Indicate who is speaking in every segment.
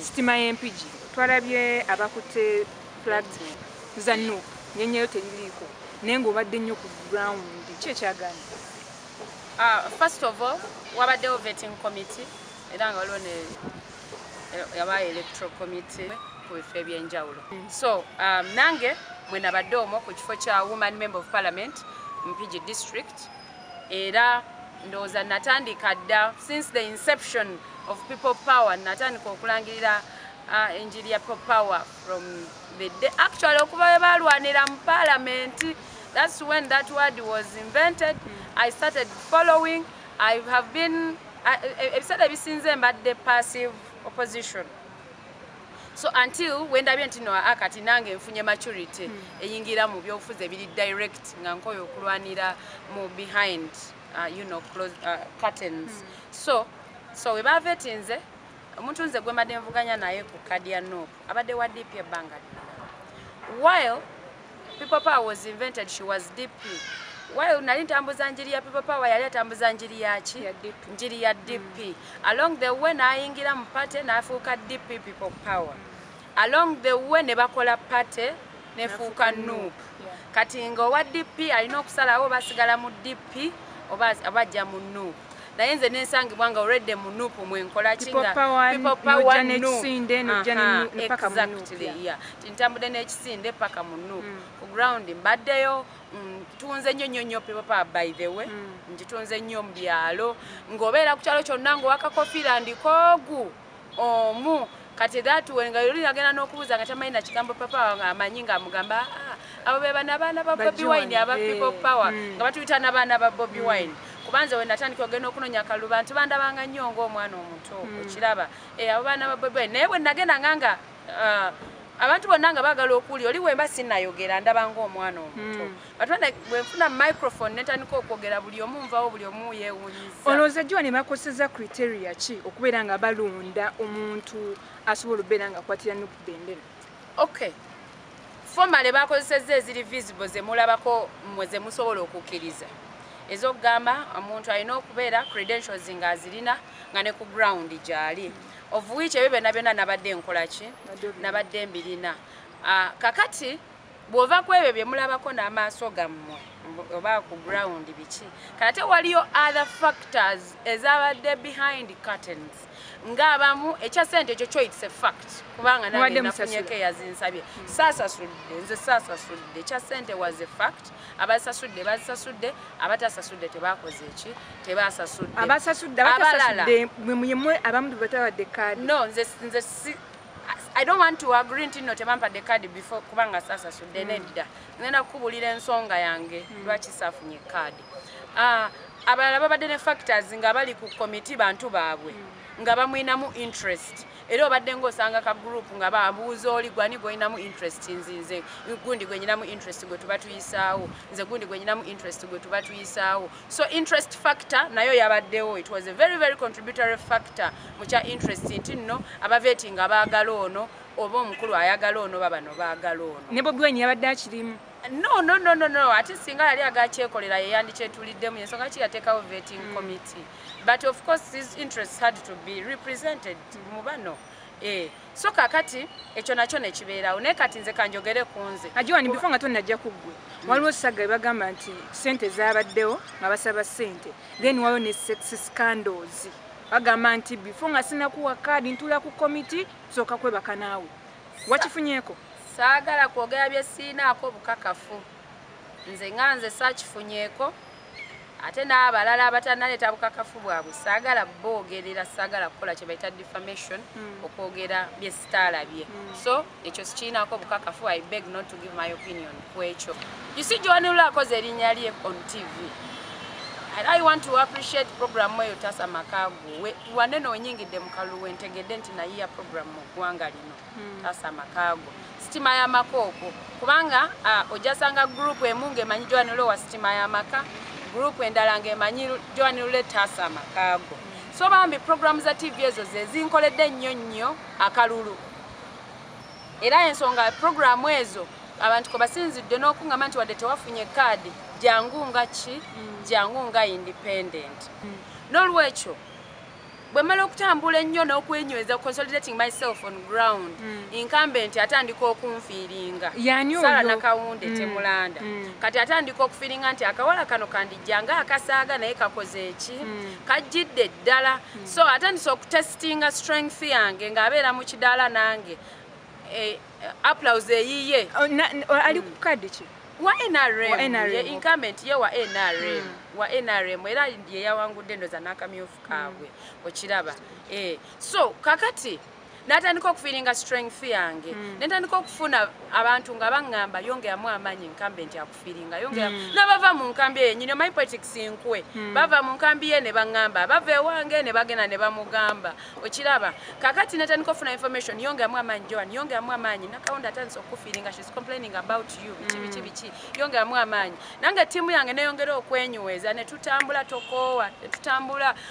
Speaker 1: sitima
Speaker 2: yempigi
Speaker 1: twalabye abakutte flag za nup nyenyeyo teririiko naye ngaobadde nnyo ku ground ki ekyagana ah,
Speaker 2: first of all wabaddewo vetting committee era nga waliwo ne yabayo electoral committee ku bifo ebyenjawulo mm. so um, nange mwenabadde omwo ku kifo kya woman member of parliament mpigi district era ndowooza natandika dda since the inception of people power natandika okulangirira uh, enjiri ya people power from the day actually okuba we balwanira mu palamenti that's when that word was invented i started following i have been ebiseera ebisinze mbadde passive opposition so until wendabye nti noa ah, kati nange nfunye maturity hmm. eyingira mu byobufuzi ebiri direct nga nkoyo okulwanira mu behind uh, you know, close, uh, curtains hmm. so so webava etinze omuntu nze gwemadde nvuganya naye ku kadi ya nopu abadde wa dp ebbanga while People power was invented she was DP. While nali ntambuza njiri ya people power yali atambuza njiri ya ki? Njiri ya DP. Mm. Along the way nayingira mu party nafuuka DP people power. Along the way ne bakola party ne fuuka nup. Kati nga owa DP alina okusalawo basigala mu DP oba abajja mu nup. naye nze nensangibwa nga already mu nup mwenkola kintambudde n'ekisinde paka mu nup mm. ku ground mbaddeyo ntunze mm, nnyo nnyo nnyo pipopa by the way mm. ngitunze nnyo mu byalo ng'obeera ku kyalo kyonna ng'owakakofira ndikoogu omu kati that way nga yoli agenda n'okubuuza nga tamanyi nakigambo papa wange amanyi nga amugamba ah, abo be bana baana ba bobi wine aba eh, people power hmm. nga batuyita nabaana ba bobi hmm. wine kubanze we natandika ogenda okunoonya kalulu bantu bandabanga nnyo ngaomwana omuto hmm. okiraba eh, abo baana ba bobi wine naye bwe nagenda nganga ah, abantu bonna nga bagala okuwulira oli wemba sinayogera ndabanga omwana omuto atwade bwenfuna microphone netandika okwogera buli omu nvawo buli omu yewunyiza olowooza jiwa ne bakoseza
Speaker 1: criteria ki okubeera nga balonda omuntu asobola okubeera nga akwatira nup bendera okay
Speaker 2: fomale bakozeseza eziri visible zemulabako mwe zemusobola okukkiriza ezokugamba omuntu alina okubeera credentials nga azirina nga ne ku ground gyali of which ebyo byona byona nabadde nkolaki nabadde mbirina ah, kakati bwova kwebyo byemulabako n'amaaso gammwe oba ku ground biki kate waliyo other factors ezabadde behind curtains ngaabamu ekya sente ekyo kyo its a fact kubanga nafunyeko eyazinsabye saasasudde nze saasasudde ekya sente was a fact abasasudde bazisasudde abatasasudde tebakoze eki tebasasudde abasasudde
Speaker 1: abatasasudde mwe mwe abamu bebatabadde kaadi no nze nze
Speaker 2: I don't want to agree nti no tebampadde card before kubanga sasa sudde mm. nedda ngenda kukubulira ensonga yange mm. lwaki safunye card uh, abalala babadde ne factors nga bali ku committee bantu baabwe mm. nga bamwinamu interest era obadde ngaosanga ka group nga babuuza oli gwani gwolinamu interest nzinze gundi gwenyinamu interest gwe tuba tuyisaawo nze gundi gwenyinamu interest gwe tuba tuyisaawo so interest factor nayo yabaddewo it was a very very contributory factor mu kya interest nti nno abaveti nga baagala ono oba omukulu ayagala ono babano baagala ono ne bobi wine yabadde akirimu
Speaker 1: no no no no no
Speaker 2: ate singa yali agakyekolera yeyandikyetuliddemu yensonga ki yateekawo vetting mm. committee but of course his interests had to be represented mu bano eh. so kakati ekyo nakyo nekibeerawo naye kati nze kanjogere ku nze ajiwani bifo nga tonajja
Speaker 1: ku ggwe waliwo sagga ebagamba nti sente zabaddewo nga basaba sente then waliwo ne sex scandals bagamba nti bifo nga sinakuwa kaadi ntula ku komiti sooka kwebaka naawe wakifunyeko saagala
Speaker 2: kwogera byesiinaako bukakafu nze nga nze saakifunyeko ate n'abalala abatanaleeta bukakafu bwabwe saagala boogerera saagala kukola kye bayita defamation hmm. okwogera bye sitaalabye hmm. so ekyo sikiinaako bukakafu i beg not to give my opinion ku ekyo usi joanula akoze erinnya lye on tv and i want to appreciate program eyo tasa makaagu wanene onyingidde mu kaluwe ntegedde nti nayiya program mu ggwanga lino hmm. taasa amaka go sitima y'amaka okwo kubanga ojasanga gurupu emu ng'emanyi joani lule wa sitima y'amaka gurupu endala ng'emanyi joani lule taasa amaka go so bambi programu za tv ezo zezinkoledde ennyo nnyo akalulu era ensonga programu ezo abantu kwe basinzidde n'okuŋama nti wadde tewafunye kaadi jangu nga ki hmm. jangu nga independent hmm. n'olwekyo bwemala okutambula ennyo n'okwenyweza consolidating myself on ground mm. incumbent atandika okunfiiringa sara nakawunde mm. temulanda mm. kati atandika okufiiringa nti akawala kano kandijja nga akasaaga naye kakoze eki mm. kajjidde ddala mm. so atandise okutestinga strength yange ng'abeera mu kidaala nange eh, Applause eyiye. Oh, na, na, oh, ali ku
Speaker 1: card ki? Wa NRM. Wa
Speaker 2: NRM. Ye incumbent ye wa NRM. Mm. Wa NRM era ye yawangudde ndoza nakamyofu kaabwe. Mm. Okiraba. Eh. So kakati natandika okufiringa strength yange. Mm. Natandika okufuna abantu nga bangamba yonge amu amanyi incumbent ya feelinga yo ngera mm. nabava mu nkambi eyo nyine my politics nkwe mm. bava mu nkambi ye ne bangamba bava ewange ne bagena ne bamugamba okiraba kakati neta niko funa information yo ngera mwama njo yo ngera mwama nyi na kaunda tanso ku feelinga she's complaining about you mm. bichi bichi bichi yo ngera mwama nyi nanga timu yange ne yongera okwenyuweza ne tutambula tokowa ne tutambula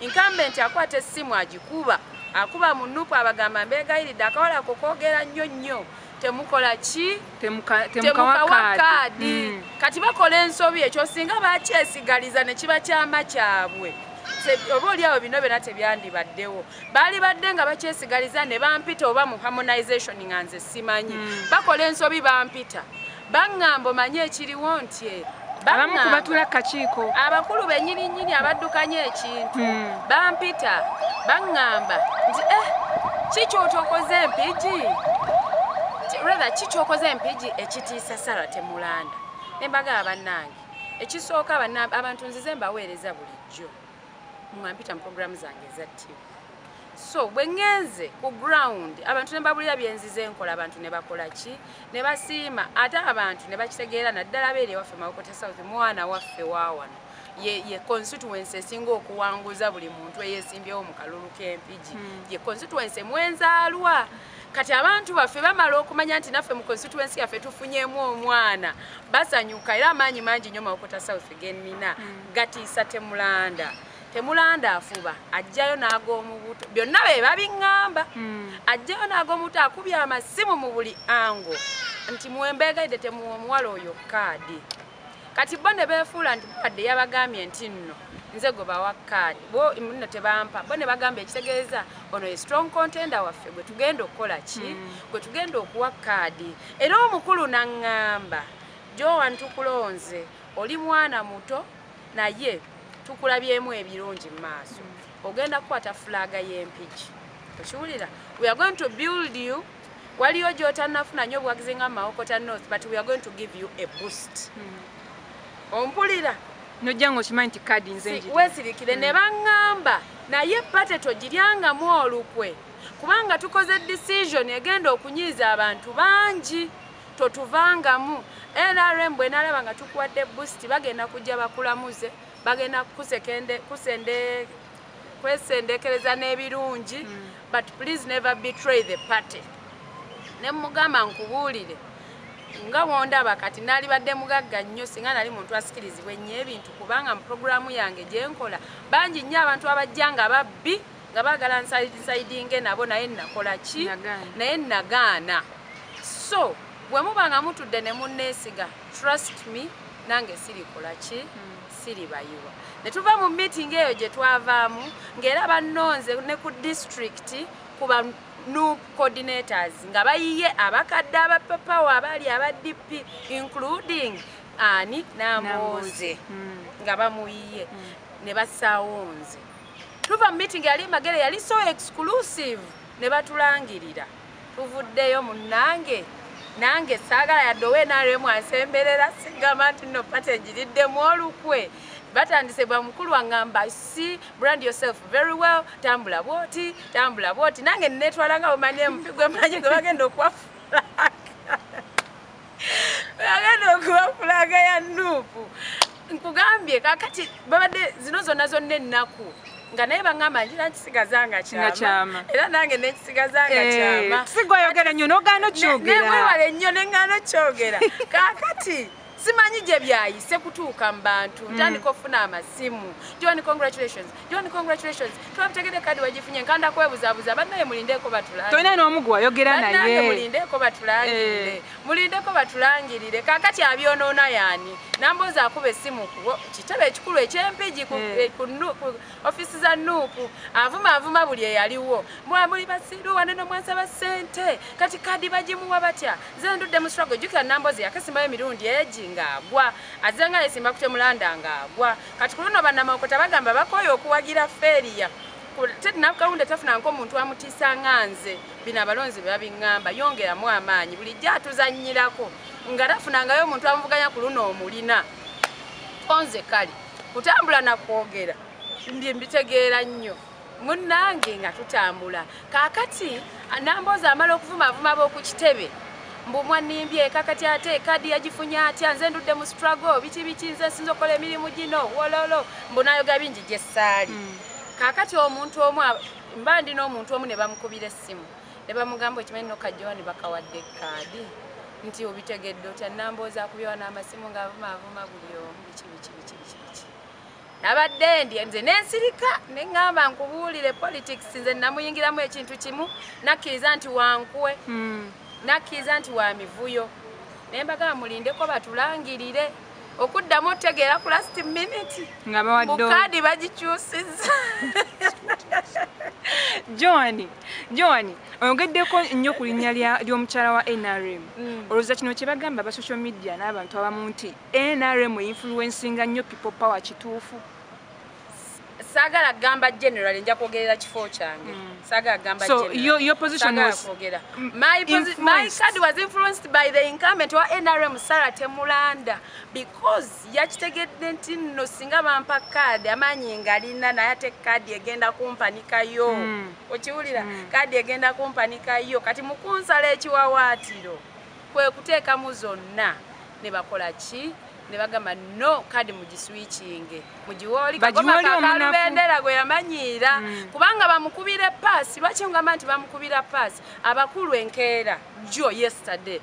Speaker 2: Incumbent akwata essimu agikuba akuba mu nupu abagamba mbeegayiridde akawala ko koogera nnyo nnyo temukola ki temukawa kaadi hmm. kati bakola ensobi ekyo singa bakyesigaliza ne kiba kyama kyabwe oba oliawo bino byona tebyandibaddewo baali badde nga bakyesigaliza ne bampita oba mu harmonization nga nze simanyi hmm. bakola ensobi bampita Bangamba omanyi ekiriwo nti eh, abamu ku batula
Speaker 1: kakiiko abakulu benyini
Speaker 2: nyini abaddukanya ekintu hmm. bampita bangamba nti eh kikyotokoze empiji rather kikyokoze empiji ekitiisa sara temulanda nembaga abanange ekisooka abantu nzize mbaweereza bulijjo nga mpita mu programu zange eza ttiimu so bwe ŋŋenze ku ground abantu ne babulira byenzize nkola abantu ne bakola ki ne basiima ate abantu ne bakitegeera naddala beeri ewaffe mawokota south mwana waffe waawano ye constituency esinga okuwanguza buli muntu eyesimbyewo mu kalulu k'empigi hmm. ye constituency mwenzaalwa kati abantu baffe bamala okumanya nti naffe mu constituency yaffe tufunyemu omwana basanyuka era amaanyi mangi nyo mawokota south genina hmm. gatiisa temulanda temulanda afuba ajjayo nag'omubuto byonna be babiŋŋamba hmm. ajjayo nag'omubuto akubye amasimu mu buli ango nti mwembeegaidde temuwa omuwala oyo kaadi kati bo ne beefuula nti babadde yabagambye nti nno nze gwe bawa kaadi bo nno tebampa bo ne bagamba ekitegeeza ono ye strong contender waffe gwe tugenda okukola ki mm. gwe tugenda okuwa kaadi era omukulu naŋŋamba joan tukulonze oli mwana muto naye tukulabyemu ebirungi mu maaso mm. ogenda kukwata fulaaga y'empiki okiwulira we are going to build you waliyo gyotannafuna nyo obuwagizi nga mawokota north but we are going to give you a boost hmm. ompulira nojja
Speaker 1: nga okimanyi nti kadi nze wesirikire ne hmm.
Speaker 2: baŋŋamba naye pate togiryangamu olukwe kubanga tukoze decision egenda okunyiiza abantu bangi totuvangamu nrm bwenalaba nga tukuwadde boost bagenda kujja bakulamuze bagenda kusende kwesendekereza n'ebirungi hmm. but please never betray the party ne mugamba nkubuulire nga wondaba kati nali badde mugagga nnyo singa nali muntu asikirizibwa ennyo ebintu kubanga mu puroguramu yange gye nkola bangi nnyo abantu abajja nga babbi nga baagala nsaidinge nabo naye nakola ki naye nagaana so bwe muba nga mutudde ne munneesiga trust me nange sirikola ki hmm. siribayiwa ne tuva mu meeting eyo gye twavaamu ng'era bannonze ne ku disitulikiti kuba nu coordinators nga bayiye abakadde abapapawo abaali aba dp including ani namonze hmm. nga bamuyiye hmm. ne bassaawo nze tuva mu meeting yali magere yali so exclusive ne batulangirira tuvuddeyo munnange nange saagala yadde owe nrm ansemberera sigamba nti no pate njiriddemu olukwe batandise bamukulu angamba si brand yourself very well tambula bwoti tambula bwoti nange netwala nga bwemanyi empi gwemanyi gwe bagenda okuwafula agenda okuba fulaga ya nuupu nkugambye kakati babadde zino zonna zonna ennaku nga naye bangamba ngira nkisigaza nga kyama era nange nekisigaza nga eh, kyama sigwayogera nyo nogaana
Speaker 1: okyogeranewewale nnyo nengaana
Speaker 2: okyogera kakati simanyi gye byayise kutuuka mu bantu ntandika mm. okufuna amasimu john congratulations John congratulations. Twabitegede kadi wajifunye nkanda kwebuzabuza banaye mulindeko batulangirire. Toyina n'omu gwe wayogera
Speaker 1: naye. Banaye mulindeko batulangirire. Eh.
Speaker 2: Mulindeko batulangirire. Kakati abyonoona yaani. Namboozi akuba essimu ku kitebe ekikulu eky'Empigi ku eh. Eh, ofisi za Nuupu. Avuma avuma buli eyaliwo. Mwa muli basiru wane n'omwasaba ssente. Kati kadi bagimuwa batya? Nze ndudde mu struggle. Jjukira Namboozi yakasimbayo emirundi egi ng'agwa. Azze nga yesimba kutemulanda ng'agwa. kati ku luno bannamawokota bagamba bakooye okuwagira feeriya ted nakawunda tafuna ngaomuntu amutiisa nga nze bino abalonzi be babiŋŋamba yongeramu amaanyi bulijjo atuzannyirako nga tafunangayo omuntu amuvuganya ku luno omulina konze kale kutambula nakwogera mbye mbitegeera nnyo munnange nga tutambula kaakati namboozi amala okuvumaavuma b'oku kitebe mbu mwanimbye kakati ate kadi yagifunye atya nze ndudde mu struggle biki biki nze nsinza okukola emirimu gino wololo mbu nayoga bingi gye ssaali mm. kaakati omuntu omu mba ndi n'omuntu omu ne bamukubira essimu ne bamugamba okimanyi nokajjowa ne bakawadde kaadi nti obitegedde otya namboozi akubyewanaamasimu ng'avumaavuma buli omu biki biki biki biki biki nabadde ndye nze nensirika neŋŋamba nkubuulire politics nze namuyingiramu ekintu kimu nakkiriza nti wankuwe hmm. nakkiriza nti wa mivuyo naye mbagamba mulindeko batulangirire okuddamu otegeera ku last minute ngabawaddebukaadi bagikyusiza johani johani oyogeddeko nnyo ku linnya ly'omukyala wa nrm mm. olowooza kino kye bagamba ba social media n'abantu abamu nti NRM influencinga nnyo people power kituufu sagala gamba general nja kwogerera kifo kyange mm. sagala gamba so general. your, your position sagala was
Speaker 1: kwogera my,
Speaker 2: my card was influenced by the incumbent wa NRM Sarah Temulanda because yakitegedde nti no singa bampa card amanyi ngalina naye ate card egenda kumpanika yo mm. okiwulira mm. card egenda kumpanika yo kati mukunsala ekiwawaatiro kwe kuteekamu zonna ne bakola ki ne bagamba no kadi mugiswikinge mugiwooli kagomakakalubendeera gwe yamanyiira mm. kubanga bamukubira epaasi lwaki ngamba nti bamukubira paasi abakulu enkeera jo yesterday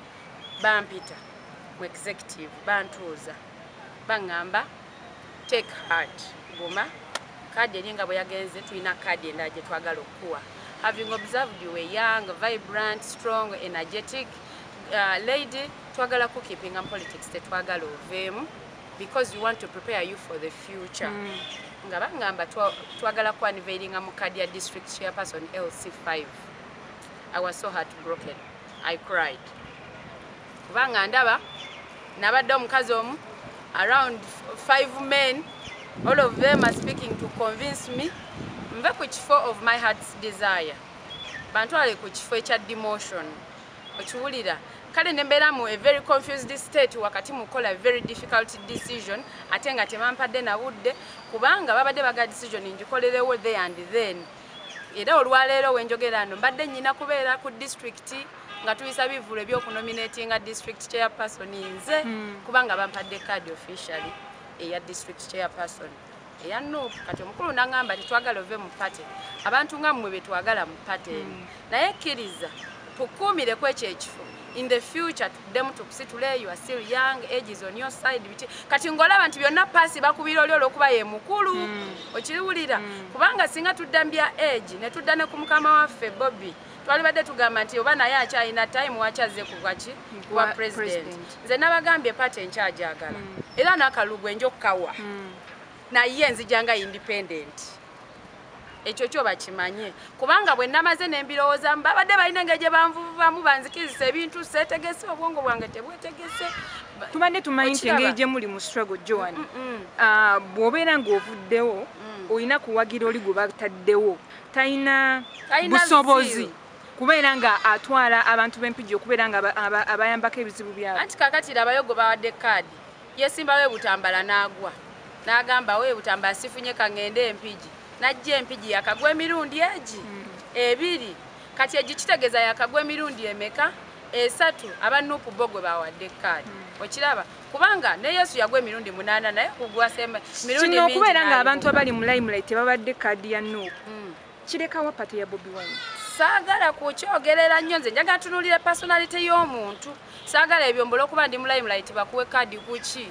Speaker 2: bampita mu executive bantuuza baŋŋamba take heart guma kaadi eri nga bwe yagenze tulina kaadi endala gye twagala okukuwa having observed you a young vibrant strong energetic uh, lady twagala kukipinga mu politics tetwagala oveemu because we want to prepare you for the future mm. nga bangamba twagala twa kuaniveiringa mu kaadi ya district chairperson lc 5 i was so heart broken I cried kubanga ndaba nabadde omukazi omu around five men all of them are speaking to convince me nve ku kifo of my heart's desire bantwale ku kifo ekya demotion okiwulira kale nembeera mu a very confused state wakati mukola very difficult decision ate nga tebampadde nabudde kubanga babadde baga decision ngikolerewo the and then Era olwaleero wenjogerano mbadde nyina kubeera ku district nga tuyisa bivulu ebyokunominatinga district chairperson nze hmm. kubanga bampadde card officially eya district chairperson eya nup kati omukulu nangamba tetwagala ove mu party abantu nga mmwe betwagala mu party hmm. naye kiriza tukuumire kwekyo ekifo in the future tuddemu tukusitule you are still young age is on your side biki kati ngolaba nti byonna paasi bakubira oli olwokuba ye mukulu mm. okiriwulira mm. kubanga singa tudda mbya age ne tudda ne ku mukama waffe bobi twalibadde tugamba nti oba naye akyalina time wakyazze kugwaki kuwa president nze nabagambye pati enkyajagala mm. era nakalugu enja okukawa mm. naye nzijanga independent ekyo kyo bakimanye kubanga bwe namaze ne mbirowoozamu babadde balina engeri gye banvuvubamu banzikiriza ebintu seetegese obwongo bwange tebwetegese tubadde
Speaker 1: tumanyi nti engeri gye muli mu struggle joan mm, mm, mm. Ah, bw'obeera ng'ovuddewo olina kuwagira oli gwe bataddewo talina busobozi kubeera nga atwala abantu b'empijja okubeera nga abayambako ebizibu byabo anti kakatira abayogo bawadde kaadi Yesimbawo e Butambala n'agwa. N'agamba, we Butambala sifunye ka ŋŋende e Mpigi. N'ajja e Mpigi yakagwa emirundi egi? Hmm. Ebiri. Kati egi kitegeeza yakagwa emirundi emeka?
Speaker 2: Esatu. Aba Nuupu bo gwe baawadde kaadi. Hmm. Okiraba? Kubanga ne Yesu yagwa emirundi munaana naye kugwa mirundi mingi. Kino okubeera ng'abantu abali mu
Speaker 1: limelight tebabadde kaadi ya Nuupu. Hmm. Kireka wa party ya Bobi Wine? Saagala
Speaker 2: kukyogerera nnyo nze njagala tunuulira personality y'omuntu saagala ebyo mbula okuba ndi mu limelight bakuwe kaadi kuki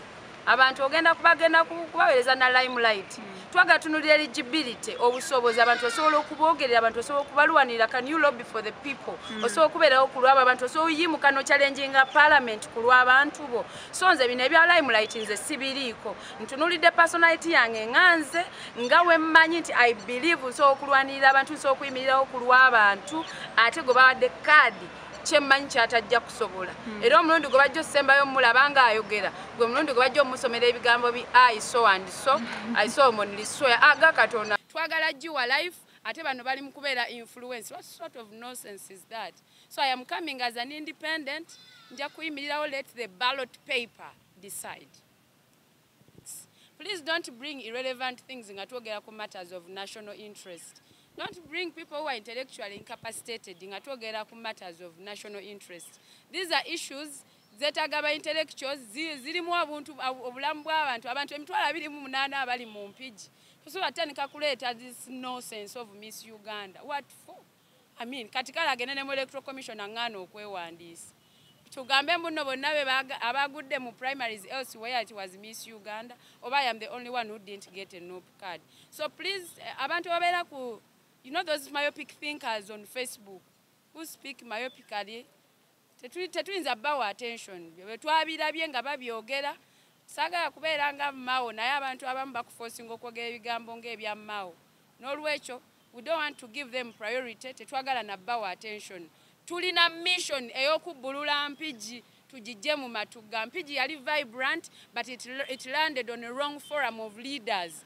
Speaker 2: abantu ogenda kubagenda kubaweereza na limelight hmm. twagala tunuulira eligibility obusobozi abantu osobola okubogerera abantu osobola okubalwanirira can you lobby for the people hmm. osobola okubeerawo ku lwabo abantu osobola oyimuka nokyalenjinga parliament ku lw'abantu bo so nze bino ebya limelight nze sibiriiko ntunulidde personality yange nga nze nga wemmanyi nti i believe nsobola okulwanirira abantu nsobola okuyimirirawo ku lw'abantu ate gwe bawadde kaadi kyemmanyi kyatajja kusobola hmm. era omulundi gwe bajja osembayo omulaba nga ayogera gwe mulundi gwe bajja omusomera ebigambo bi iso and so hmm. isomonliswea aga ah, katonda twagala giwa life ate bano bali mu kubeera influence what sort of nonsense is that so i am coming as an independent nja kuyimirirawo let the ballot paper decide Please don't bring irrelevant things nga twogera ku matters of national interest. Don't bring people who are intellectually incapacitated nga twogera ku matters of national interest. These are issues zetaaga ba intellectuals zirimu abuntu obulamu bw'abantu abantu emitwalo abiri mu munaana abali mu mpigi tosobola kutandika kuleeta this nonsense of miss uganda what for I mean, kati kale agende ne mu electoral commission aŋŋaana okwewandiisa tugambe mbuno bonna be abagudde mu primaries else where it was miss uganda oba i am the only one who didn't get a nop card so please eh, abantu babeera ku you know those myopic thinkers on facebook who speak myopically tetuyinza bawa attention byo bwetwabirabye nga babyogera sagala kubeera nga mao naye abantu abamu bakufosinga okwogera ebigambo ngaebya mao nolwekyo we don't want to give them priority tetwagala na bawa attention tulina mission eyokubbulula mpigi tugijje mu matugga mpigi yali vibrant but it, it landed on a wrong forum of leaders